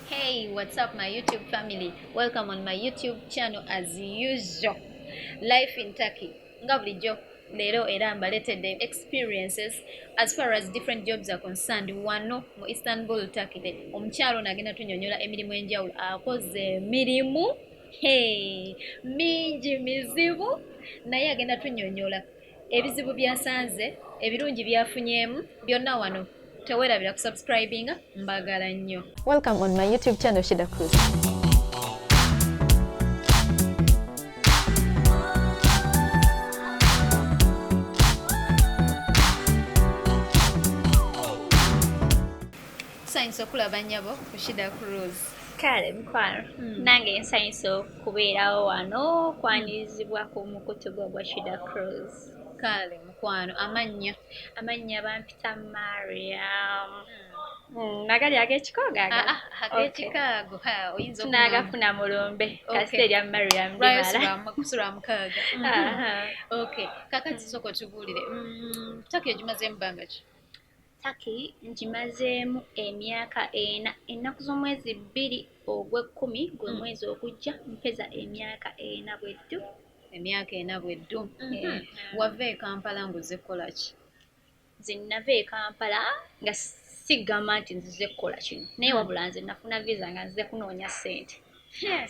Hey, what's up my YouTube family? Welcome on my YouTube channel as usual. Life in Turkey. Nga bulijjo leero era mbaleetedde experiences as far as different jobs are concerned wano mu istanbul turkey de omukyalo nagenda tunyonyola emirimu enjawulo akoze emirimu mingi mizibu naye agenda tunyonyola ebizibu byasanze ebirungi byafunyeemu byonna wano tewerabira kusubscribinga mbagala nnyo welcome on my youtube channel shida cruz nsanyusa okulaba nyabo kushida cruz kale mukwano hmm. nange nsanyusa oku kubeerawo wano kwanirizibwa ku mukutu gwa gwa shida cruise kaale mukwano amannya amannya bampita mariam hmm, nagali agekikogagekikaago ah, ah, oyinzatunagafuna mulumbe kasita erya mariam kusulaamukaaga kakati soko tubuulire hmm, tokiyo gimaze emubanga ki Turkey ngimazeemu emyaka ena. Ennaku z'omwezi bbiri ogw'ekkumi gwe hmm. mwezi ogujja mpeza emyaka ena bwe ddu. Emyaka ena bwe ddu. Mhm. Eh, wava e Kampala ng'ozze kukola ki? Nze nnava e Kampala nga sigamba nti nzize kukola kino naye hmm. wabula nze nafuna visa nga nzize kunoonya ssente.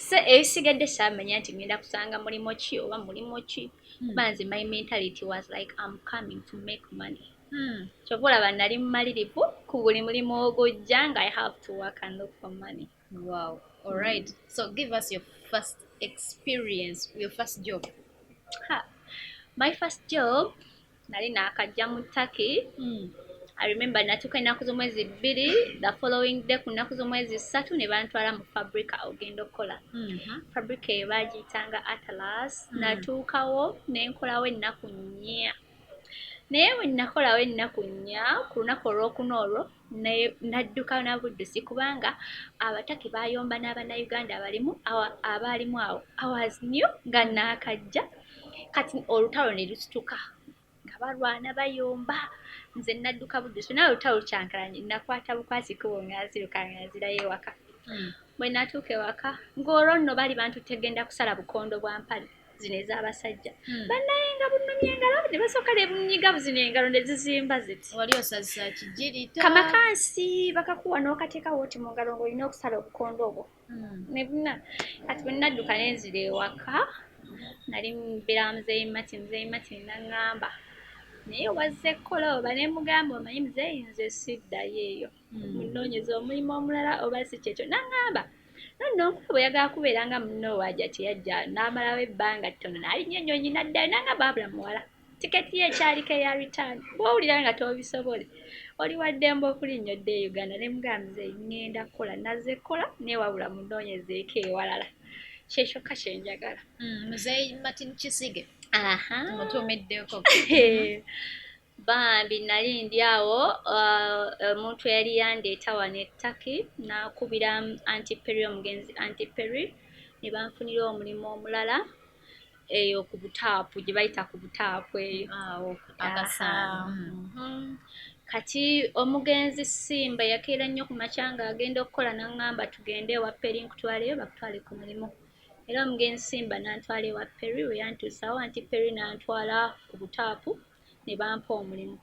So ebisigadde saamanya nti ngenda kusanga mulimu ki oba mulimu ki hmm. kuba nze my mentality was like am coming to make money. Hmm, kyova olaba nali mumalirivu ku buli mulimu ogujja nga i have to work and look for money wow alright mm. so give us your first experience your first job ha. my first job nali nakajja mu turkey mm. i remember natuuka ennaku z'omwezi bbiri the following day ku nnaku z'omwezi ssatu ne bantwala mu fabrica ogenda okukola mm -hmm. fabrica eyo baagiyitanga atlas mm. natuukawo ne nkolawo ennaku nnya naye bwe nnakolawo ennaku nnya ku lunaku olwokuna olwo nadduka na buddusi kubanga abataki baayomba n'abannayuganda abalimu abaalimu awo awas new nga naakajja kati olutalo ne lusituka nga balwana bayomba nze nadduka buddusi naye olutalo lukyankalanye nakwata bukwasi kubo nga nziruka nga nzirayo ewaka hmm. bwe natuuka ewaka ng'olwo nno bali bantu tegenda kusala bukondo bwa mpale zino ez'abasajja hmm. bannaye nga bunumye engalo ne basooka ne bunyiga buzino engalo ne zizimba ziti wali osazisa kigirita kamakansi bakakuwa n'okateeka wooti mu ngalo ng'olina okusala obukondo obwo hmm. ne buna kati bwe nnadduka ne nzira ewaka nali mbeera muzeeyi mati muzeeyi mati naŋŋamba naye wazze kukola oba ne mugamba omanyi muzeeyi nze siddayo eyo munoonyeza omulimu omulala oba si kyekyo naŋŋamba nonno nkuba bwe yagala kubeera nga munno waaja kye yajja n'amalawo ebbanga ttono n'alinnya ennyonyi n'addayo naŋŋamba abula muwala tiketi ye ekyaliko eya return bw'owulira nga toobisobole oli wa ddembe okulinnya odde e uganda ne mugambize ŋŋenda kukola nazze kukola naye wabula munoonyezeeko ewalala kyekyokka kye njagala mm, muzeeyi martin kisige aha mutuumiddeko Bambi nali ndi awo omuntu uh, eyali yandeeta wano ettaki nakubira antiperi omugenzi antiperi ne banfunira omulimu omulala eyo ku butaapu gye bayita ku butaapu eyo awo mhm. kati omugenzi simba yakeera nnyo ku makya nga agenda okukola naŋŋamba tugende ewa peri nkutwaleyo bakutwale ku mulimu era omugenzi simba nantwala ewa peri weyantuusawo anti peri nantwala ku butaapu ne bampa omulimu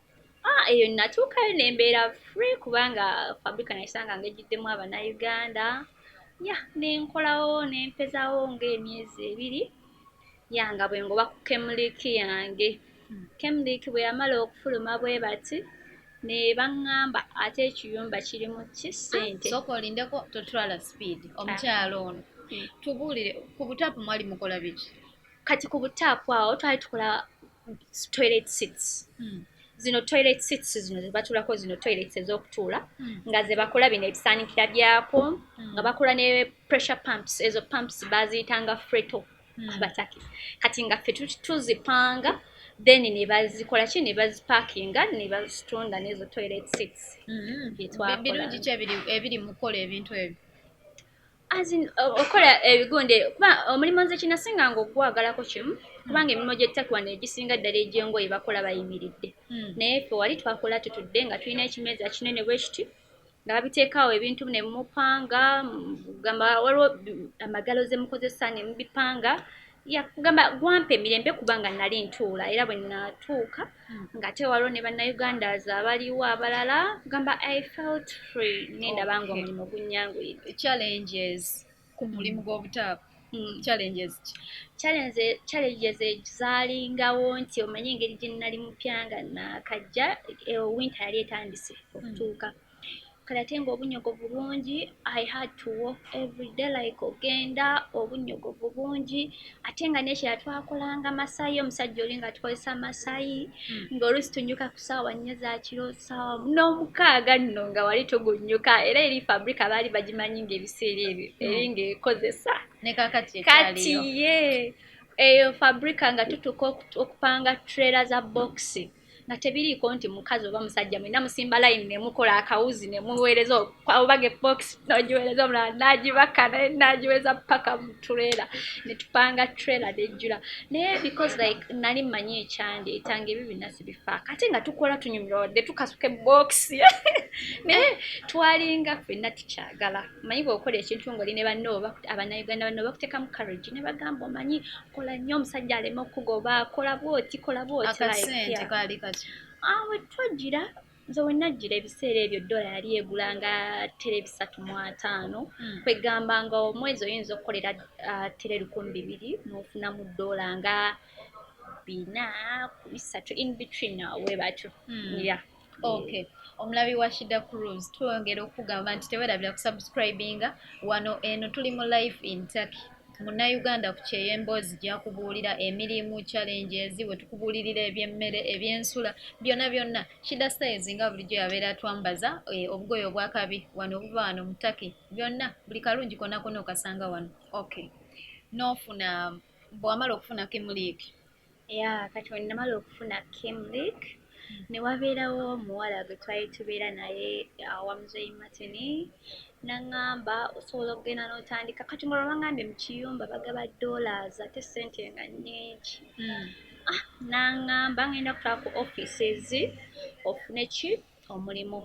ah, eyo natuukayo ne mbeera free kubanga fabrika nayisanga nga ejjiddemu abanauganda ya ne nkolawo ne mpezawo ng'emyezi ebiri ya nga bwe ngoba ku kemuliki yange hmm. kemuliki bwe yamala okufuluma bwe bati ne baŋŋamba ate ekiyumba kirimu ki ssente ah, soka olindeko totwala speed omukyalo ono hmm. tubuulire ku butaapu mwali mukola biki kati ku butaapu awo twali tukola toilet seats hmm. zino toilet seats zino zebatulako zino toilets ezokutuula hmm. nga zebakola bino ebisaanikira byako hmm. nga bakola ne pressure pumps ezo pumps baziyitanga freto abataki kati nga fe tuzipanga then nebazikola ki nebazipakinga nebazitunda nezo toilet seats byetwakola ebiri mukola ebintu ebyo okukola ebigunde kuba omulimu nze kinasinga nga okugwagalako kimu kubanga emirimu gy'ettaka wano egisinga ddala egy'engoye bakola bayimiridde hmm. naye fe wali twakola tutudde nga tulina ekimeeza kinene bwe kiti nga babiteekaawo ebintu ne mupanga gamba waliwo amagalo ze mukozesa ne mubipanga yakugamba gwampa emirembe kubanga nali ntuula era bwe natuuka hmm. nga te waliwo ne bannayuganda aza abaliwo abalala gamba i felt free ngenda banga omulimu gunyanguyira challenges ku mulimu gw'obutaapu hmm. challenges ki challenges zalingawo nti omanye engeri gye nali mupya nga nakajja eh, winter yali etandise okutuuka mm. kale ate nga obunyogovu bungi i had to walk everyday like ogenda obunyogovu bungi ate nga nekira twakolanga masayi omusajja oli nga tukozesa masayi hmm. ngaolusi tunyuka ku saawa nnyo zakiro saawa n'omukaaga nno nga wali tugunyuka era eri fabrika baali bagimanyi nga ebiseera ebyo hmm. eri ngaekozesa kati ye eyo fabrika nga tutuka okupanga trela za boxi nga tebiriiko nti mukazi oba musajja mwena musimba layini nemukola akawuzi nemuweereza obaga ebokisi nogiweereza omulala nagibaka naye nagiweereza paka mutureera netupanga tureera nejjula naye because like nali mmanyi ekyandi etanga ebyo byonna sibifa kate nga tukola tunyumira wadde tukasuka ebokisi naye twalinga fenna tukyagala omanyi bweokola ekintu ngaoli ne banno abanauganda banno bakuteekamu courage ne bagamba omanyi kola nnyo omusajja aleme okugoba kola bwoti kola bwotiakasente kaali kati awe ah, twajjira nze wenajjira ebiseera ebyo dola yali egula nga tere bisatu mu ataano hmm. kwegamba nga omwezi oyinza okukolera ah, tere lukumi bibiri nofunamu dola nga bina bisatu in between awo webatyo hmm. ya okay omulabi wa shida cruise twongera okugamba nti tewerabira kusubscribinga wano eno tuli mu life in turkey munnayuganda ku kyeyo emboozi gyakubuulira emirimu challenges we tukubuulirira ebyemmere ebyensula byonna byonna shida styles nga bulijjo yabeera atwambaza eh, obugoye obwakabi wano obuva wano mu turkey byonna buli kalungi kona kona okasanga wano okay nofuna bwewamala okufunako emuliiki ya kati wenamala okufuna kimlik newabeerawo omuwala gwe twali tubeera naye awamuzeyi matini naŋamba osobola okugenda notandika kati nga olwabangambye mukiyumba bagaba dollars ate sente nga nyingi hmm. ah, naŋamba ngenda kutula ku offices ofune ki omulimu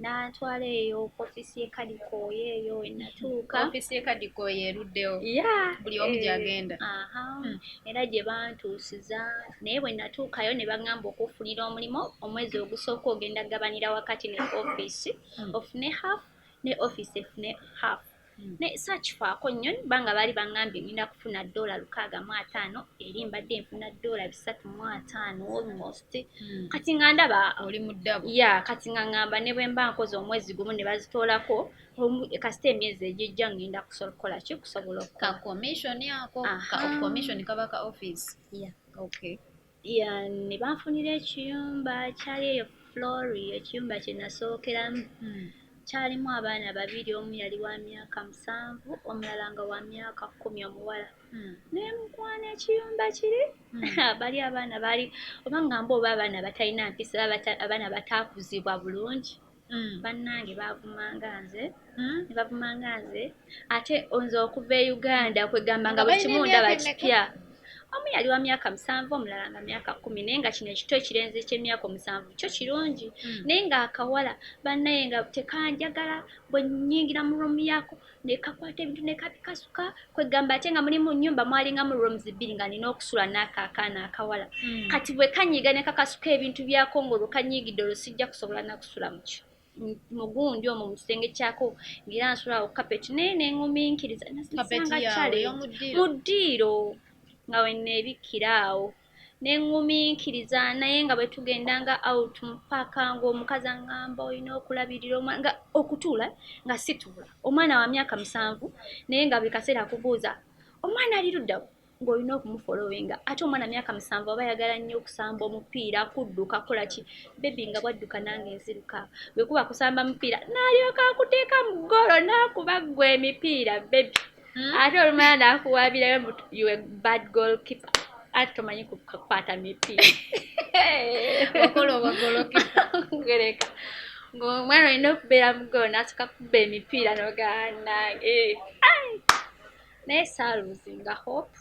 n'antwala eyo ku ofiisi y'e kadikooya eyo we natuuka ofiisi y'e kadikooya eruddewo ya buli omu eh, gy'agenda aha hmm. era gye bantuusiza naye bwe natuukayo ne baŋŋamba okufunira omulimu omwezi ogusooka ogenda gabanira wakati ne ofiisi hmm. ofune half ne ofiisi efune half Hmm. naye sakifaako nnyo ba nga baali baŋambye ngenda kufuna doola lukaaga mu ataano eri mbadde nfuna doola bisatu mu ataano almost hmm. kati nga ndaba oli muddabu ya kati nga ŋamba ne bwe mba nkoze omwezi gumu ne bazitoolako kasita emyezi egijja ŋŋenda kusobola kukola ki kusobola okukakomishoni ako kakomishoni kabaka office ya okay ne banfunira ekiyumba kyali eyo flori ekiyumba kye nasookeramu hmm. kyalimu abaana babiri omu yali wa myaka musanvu omulala nga wa myaka kkumi omuwala hmm. naye mukwana ekiyumba kiri hmm. bali abaana baali oba ngamba oba abaana batalina mpisa abaana bataakuzibwa bulungi mm. bannange bavumanga nze mm. bavumanga nze ate nze okuva e uganda kwegamba nga buli kimu ndaba kipya omu yali wa myaka musanvu omulala nga myaka kumi naye nga kino ekito ekirenze ekyemyaka omusanvu kyo kirungi mm. naye nga akawala bannaye nga tekanjagala bwenyingira mu romu yako nekakwata ebintu nekabikasuka kwegamba ate nga muli mu nyumba mwalingamu rooms bbiri nga nina okusula naako akaana akawala mm. kati bwe kanyiiga nekakasuka ebintu byako nga olwo kanyiigidde olwo sijja kusobola nakusula mukyo mugundi omwo mukisenge kyako ngaera nsula ku kapeti naye nenguminkiriza nasanga kyale mu ddiiro nga weneebikkira awo nenguminkiriza naye nga bwetugenda nga out mpaka ngaomukazi angamba olina okulabirira omwana nga okutuula nga situula omwana wa myaka musanvu naye nga buli kaseera akubuuza omwana ali luddawa ng'olina okumufolowinga ate omwana myaka musanvu aba ayagala nnyo okusamba omupiira kudduka kola ki bebi nga bwadduka nange nziruka bwe kuba kusamba mupiira n'alyoka akuteeka mu ggoolo n'akuba ggwe emipiira bebi hmm? ate olumala nakuwabirayo you a bad goal keeper ate tomanyi kukwata mipi okolobagolokigereka ngaomwana olina okubeera mugoo nasuka kuba emipiira noganange eh, naye saaluzinga hope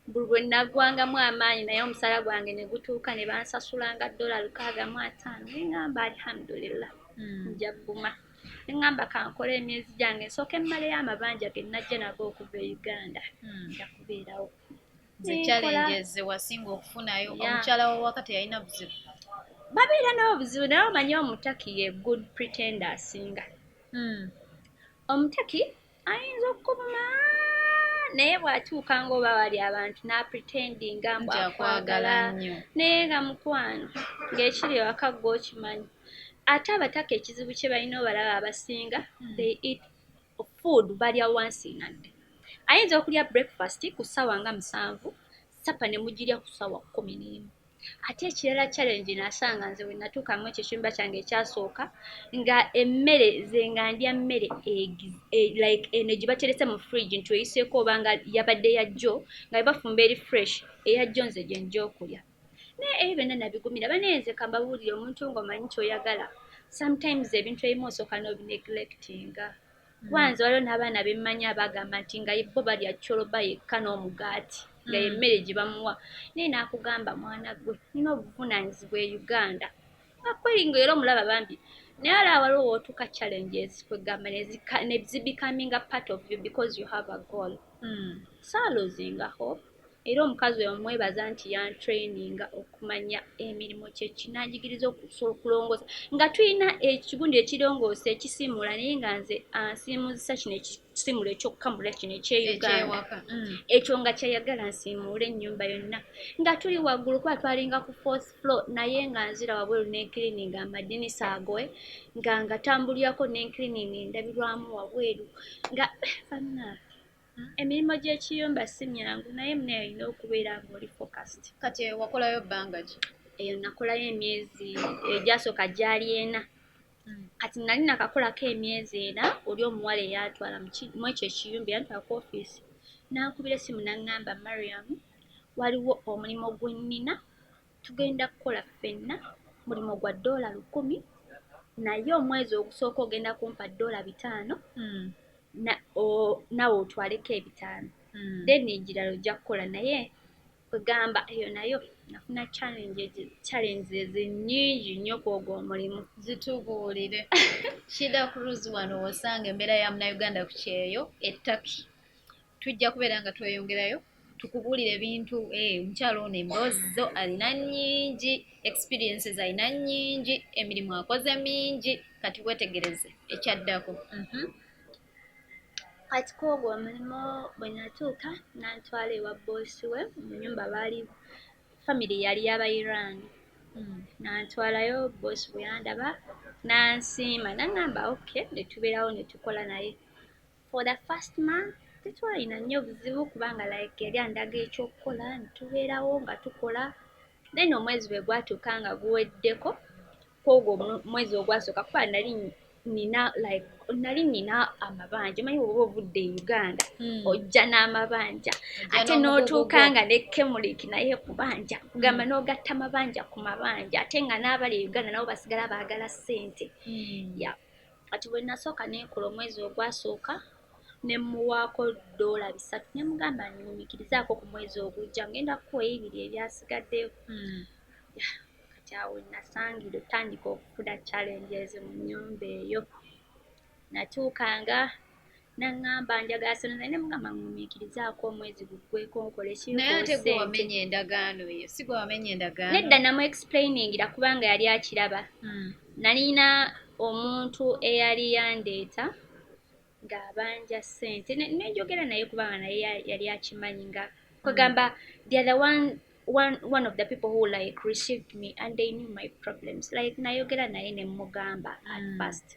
buli bwe nnaggwangamu amaanyi naye omusala gwange ne gutuuka ne bansasulanga ddola lukaaga mu ataano ne ŋŋamba alihamudulillah hmm. nja gguma ne ŋŋamba kankole emyezi gyange nsooke mmaleyo amabanja ge najja nago okuva e uganda hmm. nja kubeerawo zekyalenjeze wasinga okufunayo omukyala wawaka teyalina buzibu babeera n'obuzibu naye omanye omutaki ye good pretender asinga hmm. omutaki ayinza okukuvuma naye bw'atuuka ng'oba wali abantu n'apretendinga mbu akwagala naye nga mukwano ng'ekiri ewaka gwe okimanyi ate abataka ekizibu kye balina obalaba abasinga hmm. they eat food balya wansi nadde ayinza okulya breakfast ku ssaawa nga musanvu sapa ne mugirya ku ssaawa kkumi n'emu ate ekirala challenge nasanga nze wenatuuka mu ekyo ekyumba kyange ekyasooka nga emmere ze nga ndya mmere e, like eno gye baterese mu fridge nti oyiseeko oba nga yabadde yajjo nga bebafumba eri fresh eyajjo nze gye nja okulya naye ebyo byonna nabigumira banenze kambabuulire omuntu ng'omanyi kyoyagala sometimes ebintu ebimu osooka n'obinegilectinga kuba nze waliwo n'abaana bemmanyi abagamba nti nga bo balya coloba yekka n'omugaati nga mm. yemmere gye bamuwa naye n'akugamba mwana gwe nina obuvunaanyizibwa e uganda akweri nga era omulaba bambi naye ala waliwo wootuuka challenges kwegamba nezibikaminga part of you because you have a goal mm. salozinga hope Era omukazi oyo mwebaza nti yantraininga okumanya emirimu kyeki nanjigiriza okusobola okulongoosa nga tulina ekigundi ekirongoosa ekisiimuula naye nga nze ansiimuuzisa kino ekisiimuula ekyokkamula kino ekyeuganda mm. ekyo nga kyeyagala nsiimuule ennyumba yonna nga tuli waggulu kuba twalinga ku fourth floor naye nga nzira wabweru nenkirininga amadinisa agoe nga ngatambulirako nenkirininga endabirwamu wabweru nga banna Hmm? emirimu gy'ekiyumba si myangu naye munaye olina okubeera ngaoli focast kati eyo wakolayo bbanga ki eyo nakolayo emyezi egyasooka gyali ena hmm. kati nali nakakolako emyezi ena oli omuwala eyantwala mwekyo ekiyumba eyantwala ku ofiisi nankubira esimu naŋŋamba mariam waliwo omulimu gwenina Tugenda kukola ffenna mulimu gwa ddoola lukumi naye omwezi ogusooka ogenda kumpa ddoola bitaano mm. na, nawe otwaleko ebitaano mm. then egirala ojja kukola naye kwegamba eyo nayo nafuna challenges nyingi nnyo kwogwo omulimu zitubuulire shida cruz wano wosanga embeera ya munauganda ku kyeyo ettaki tujja kubeera nga tweyongerayo tukubuulira ebintu eh, omukyalo ono emboozi zo alina nyingi experiences alina nyingi emirimu akoze mingi kati wetegereze ekyaddako mhm. kati kwogwo omulimu bwe natuuka nantwala ewa boosi we mu nyumba baali famiry yali yaba iran hmm. nantwalayo boosi bwe yandaba nansiima nangamba ok netubeerawo netukola naye For the first month tetwalina nnyo buzibu kubanga like yali andaga ekyokukola netubeerawo nga tukola then omwezi bwe gwatuuka nga guweddeko kwogwo omwezi ogwasooka kuba nali nina like nali nina amabanja manyi oba ovudde e uganda hmm. ojja n'amabanja ate n'otuuka nga ne kemuliki naye kubanja kugamba hmm. n'ogatta mabanja ku mabanja ate nga n'abali e uganda nabo basigala baagala ssente hmm. ya kati bwe nasooka nekola omwezi ogwasooka ne mmuwaako doola bisatu ne mugamba nyumikirizaako ku mwezi ogujja ngenda kukuwa ebibiri ebyasigaddeyo hmm. kati awo nasangira otandika okufuna challenges mu nyumba eyo natuukanga naŋŋamba njagala sente naye nemugamba nŋumiikirizaako omwezi guggweko nkole kinaye ate gwe wamenya endagaano eyo si gwe wamenya endagaano nedda namu explainingira kubanga yali akiraba hmm. nalina omuntu eyali yandeeta ng'abanja ssente nenjogera naye kubanga naye yali akimanyi nga hmm. kwegamba the other one one one of the people who like received me and they knew my problems like nayogera naye nemugamba at hmm. first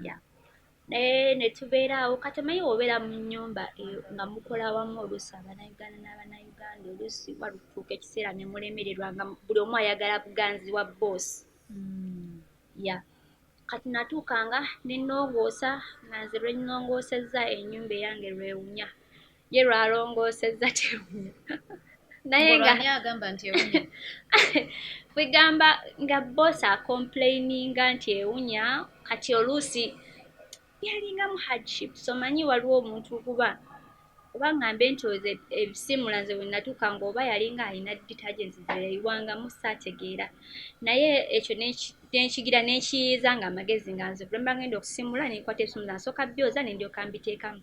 yeah naye netubeera awo kati omanyi wobeera mu nyumba eh, nga mukola wamu oluusi abanauganda n'abanauganda oluusi walutuuka ekiseera nemulemererwa nga buli omu ayagala buganzi wa boosi hmm. ya kati natuukanga nenongoosa nga nze lwenongoosezza enyumba eyange lwewunya ye lwalongoosezza tewunya naye nga agamba nti ewunya kwegamba nga boss acomplaininga nti ewunya kati oluusi yalinga mu hardship so manyi waliwo omuntu kuba oba ngambe nti oze ebisimula nze wenatuuka nga oba yalinga alina detergents zeyayiwangamu saategeera naye ekyo nenkigira nenkiyiiza nga amagezi nga nze kulamba ngenda okusimula nenkwata ebisimula nsooka byoza nendyoka mbiteekamu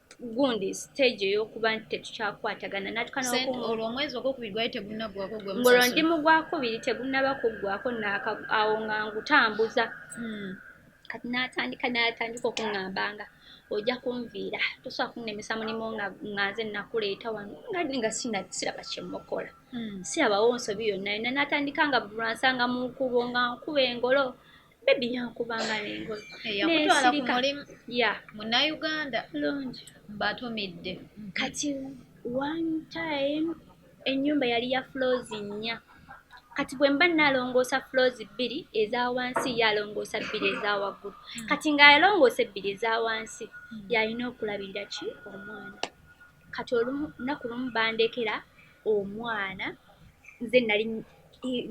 gundi stage eyokuba nti tetukyakwatagana natukanolwo omwezi ogwokubiri gwali tegunagwako ngolwo ndi mu gwakubiri tegunaba kuggwako awo nga ngutambuza hmm. kati natandika natandika okuŋambanga ojja kunviira tosobola kunemesa mulimu nga nze nakuleeta wano ngadi nga siraba kyemukola hmm. sirabawo nsobi yonna yonna natandika nga bulwansanga munkubo nga nkuba engolo bebi yankubanga nengoye eh, yakutwala ku mulimu ya munauganda lungi mbatumidde kati one time enyumba yali ya flows nnya kati bwe mba nalongoosa flows bbiri eza wansi ye alongoosa bbiri eza waggulu hmm. kati ng'alongoosa ebbiri eza wansi hmm. yalina okulabirira ki omwana kati olunaku lumu bandekera omwana nze nali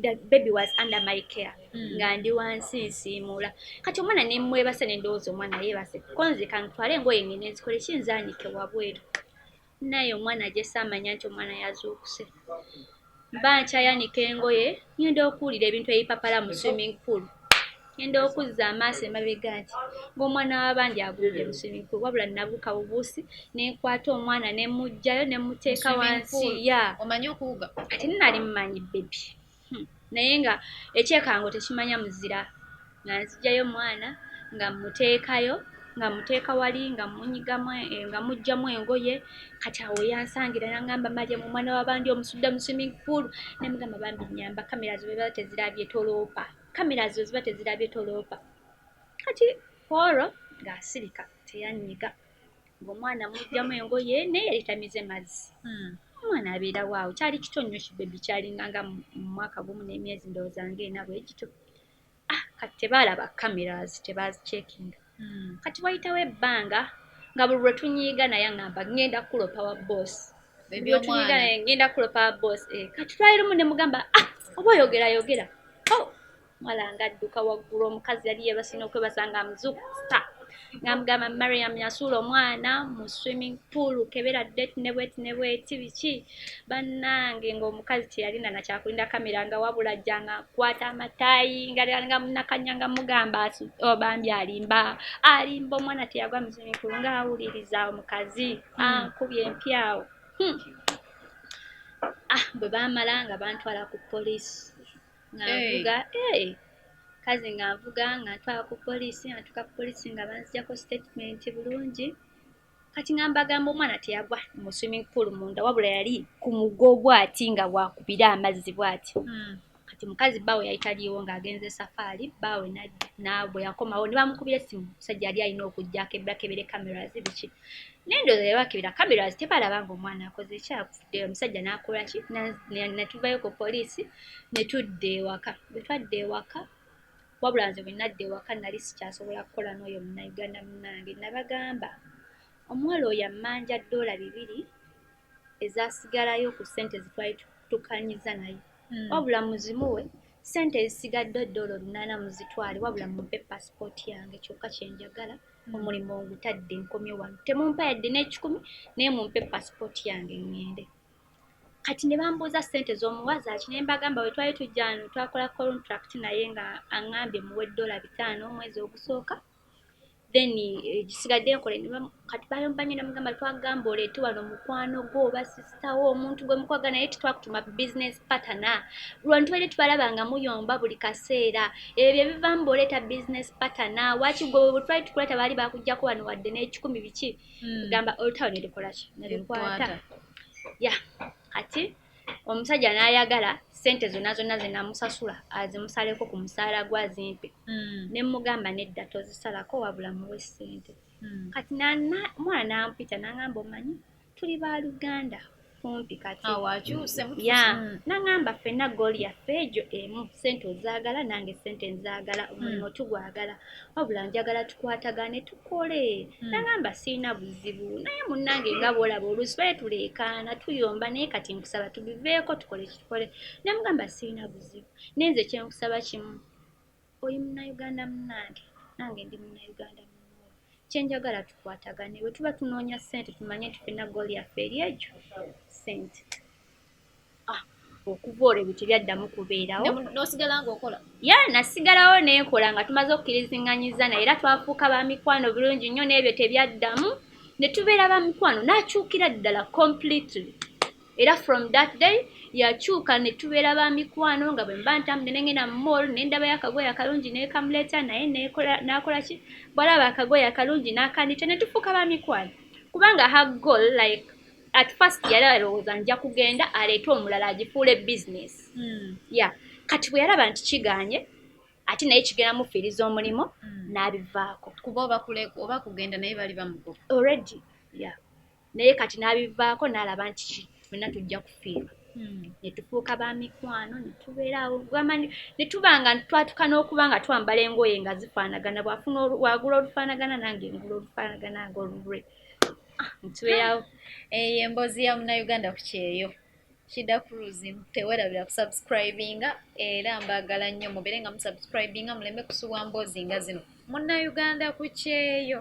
the baby was under my care mm. nga ndi wansi nsiimuula kati omwana nemwebasa nendowooza omwana yebase konze kantwale engoye ngene nzikole kinzanike wabweru naye omwana ajese amanya nti omwana yazuukuse mba nkyayanika engoye ngenda okuwulira ebintu ebipapala mu swimming pool Ngenda okuzza amaaso emabega nti ng'omwana w'abandi agudde mu swimming pool wabula nabuuka bubuusi ne nkwata omwana ne mmuggyayo ne mmuteeka wansi ya omanyi okuwuga ate nnali mmanyi bebi hmm. naye nga ekyekango tekimanya muzira nga nzijjayo omwana nga mmuteekayo nga mmuteeka wali nga munyigamu eh, nga muggyamu engoye kati awo yansangira nangamba malya mu mwana w'abandi omusudda mu swimming pool ne mugamba bambi nyamba kamera zibeera tezirabye toloopa kamera zo ziba tezirabye toloopa kati kwolwo ng'asirika teyanyiga ng'omwana mujjamu engoye naye yali tamize mazzi hmm. omwana abeera waawo kyali kito nnyo kibebi kyalinga nga mumwaka gumu n'emyezi ndowooza nga ena bwegito ah, kati tebaalaba cameras tebaazicekinga Hmm, kati wayitawo ebbanga nga buli lwe tunyiiga naye aŋamba ŋŋenda kukulopa wa boosi tunyiiga naye ŋŋenda kukulopa wa boosi eh, kati twali lumu ne mugamba ah, oba oyogera yogera oh, mwala nga adduka waggulu omukazi yali yebasina okwebasanga amuzuku sta nga mugamba mariam yasuula omwana mu swimming pool kebera det ne bweti ne bweti biki bannange ng'omukazi teyalina nakyakulinda kamera nga wabula ajja nga kwata amatayi nga munakanya nga mugamba oh, bambi alimba alimba omwana teyagwa muzimikulu ng'awuliriza omukazi hmm. ankubye empyawo hmm. ah bwe baamala nga bantwala ku poliisi nga nvuga ee kazi nga nvuga nga ntwala ku poliisi nga ntuuka ku poliisi nga banzijako sitatimenti bulungi kati nga mbagamba omwana teyagwa mu swimming pool munda wabula yali ku mugo bwati nga wakubira amazzi bwati hmm. kati mukazi baawe yali taliiwo ng'agenze safaari baawe nabwe yakomawo ne bamukubira essimu musajja yali alina okujja kebakebere cameras biki naye ndooza yali bakebera cameras tebalaba nga omwana akoze ekyakufudde omusajja n'akola ki natuvayo ku poliisi ne tudda ewaka bwe twadda ewaka Wabula nze bwe nadda ewaka nali sikyasobola kukola n'oyo Munnayuganda munnange. Nabagamba omuwala oyo ammanja ddoola bibiri ezaasigalayo ku ssente ze twali tukkanyiza naye. Hmm. Wabula muzimuwe ssente ezisigadde ddoola olunaana muzitwale wabula mumpe paasipooti yange kyokka kye njagala hmm. omulimu ngutadde nkomye wano. Temumpa yadde n'ekikumi naye mumpe paasipooti yange ŋŋende. kati ne bambuuza ssente z'omuwa zaaki ne mbagamba bwe twali tujja wano twakola contract naye nga aŋŋambye muwe ddoola bitaano omwezi ogusooka then eh, gisigadde nkole kati bayomba nnyo namugamba twagamba oleete wano mukwano gwo oba sisitawo omuntu gwe mukwaga naye tetwakutuma business patana lwano tubadde tubalaba nga muyomba buli kaseera ebyo bye bivaamu booleeta business patana waki gwe bwe twali tukuleta baali bakugjako wano wadde n'ekikumi biki hmm. gamba olutalo nelikolaki nelikwata ya kati omusajja nayagala sente zonna zonna zenamusasula azimusaleko ku musaala gwa zimpe hmm. ne mugamba nedda tozisalako wabula muwe sente hmm. kati mwana nampita nangamba omanyi tuli baluganda kumpi kati awakyuse ah, ya mm. nangamba fena gol ya fejo emu sente ozagala nange sente nzagala mm. omulimu tugwagala wabula njagala tukwatagane tukole mm. nangamba sirina buzibu naye munange nga bwolaba olusi baye tuleekaana tuyomba naye kati nkusaba tubiveeko tukole kitukole namugamba sirina buzibu naye nze kyenkusaba kimu oli munnayuganda munnange nange ndi munnayuganda munno kye njagala tukwatagane bwe tuba tunoonya ssente tumanye nti fenna gooli yaffe eri egyo ssente ah, okuva olwo ebyo tebyaddamu kubeerawo nosigala ngaokola ya nasigalawo nenkola nga tumaze okukirizinganyiza naye era twafuuka ba mikwano bulungi nnyo n'ebyo tebyaddamu ne tubeera ba mikwano n'akyukira ddala completely era from that day yakyuka ne tubeera ba mikwano nga bwe mba ntambudde ne ngenda mu mall ne ndabayo akagoye akalungi neekamuleeta naye n'akola ki bwalaba akagoye akalungi n'akandita ne tufuuka ba mikwano kubanga ha goal like at first yali alowooza nja kugenda aleete omulala agifuule business hmm. ya kati bwe yalaba nti kiganye ate naye kigenda mufiiriza omulimu hmm. n'abivaako kuba oba kugenda naye bali bamugoba already ya naye kati n'abivaako n'alaba nti fenna tujja kufiirwa hmm. ne tufuuka ba mikwano ne tubeeraawo gwamanyi ne tuba nga twatuka n'okuba nga twambala engoye nga zifaanagana bw'afuna wagula olufaanagana nange ngula olufaanagana nga olulwe ah, ntubeerawo eyo emboozi ya munauganda ku kyeyo shida cruise tewerabira kusubscribinga era mbaagala nnyo mubeere nga musubscribinga muleme kusubwa mboozi nga zino munauganda ku kyeyo